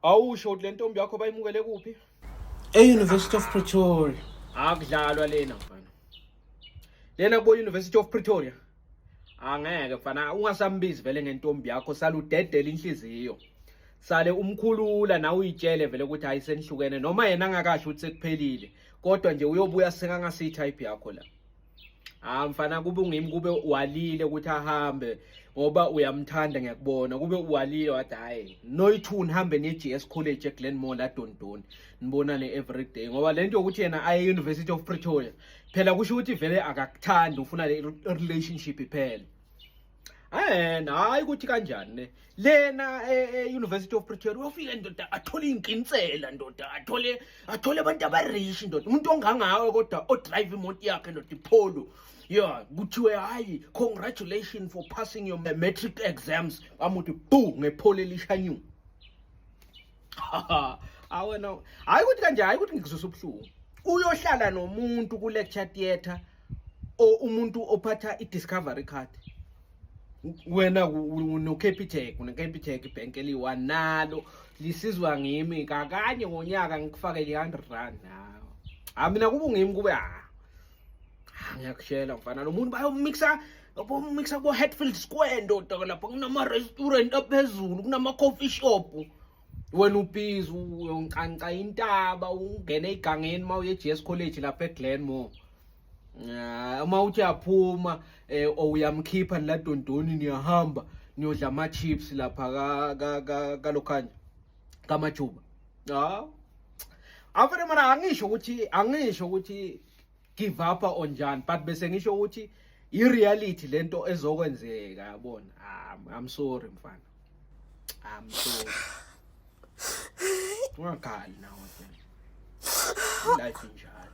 awusho ukuthi le ntombi yakho bayimukele kuphi e-university of pretoria akudlalwa lena mfana lena kubo-university of pretoria angeke mfana ungasambizi vele ngentombi yakho saludedela inhliziyo sale umkhulula nawe uyitshele vele ukuthi hayi senihlukene noma yena angakasho ukuthi sekuphelile kodwa nje uyobuya sekangasiyi type yakho la Ah mfana kube ungimi kube walile ukuthi ahambe ngoba uyamthanda ngiyakubona kube walile wathi hayi noyithu nihambe ne GS College eGlenmore la Dondon nibonane every day ngoba lento yokuthi yena aye University of Pretoria phela kusho ukuthi vele akakuthandi ufuna le relationship iphele and hayi ukuthi kanjani ne lena e-university e, of pretoria uyofike ndoda athole iy'nkinsela ndoda athole athole abantu abarish ndoda umuntu ongangawe kodwa odrive imoto yakhe ndoda ipholo ya kuthiwe hhayi congratulation for passing your matric exams amuthi bu ngepholo elishanyu awena hhayi ukuthi kanje hhayi ukuthi ngikuzusa ubuhlungu uyohlala nomuntu ku-lecture theatre o umuntu ophatha i-discovery card wena unocapitec unecapitec ibhenki eliyi-one nalo lisizwa ngimi kakanye ngonyaka ngikufakele i-hundred rand nawo ha mina kube ngimi kube ha ngiyakushela mfana lo muntu bayomixa bomixa ko-hatfield square ndoda lapho kunama-restaurant aphezulu kunama-coffee shop wena ubizi uyoncanca intaba ungene igangeni uma uye eGS College lapha eGlenmore ah, uma uthi uyaphuma um eh, or uyamkhipha niladondoni niyahamba niyodla ama-chips lapha kalokhanya kamajuba hawu ah. afere mara angisho ukuthi angisho ukuthi give up on Jan but bese ngisho ukuthi i reality lento ezokwenzeka yabona ah, i'm sorry mfana i'm sorry ungakhali nawe life injalo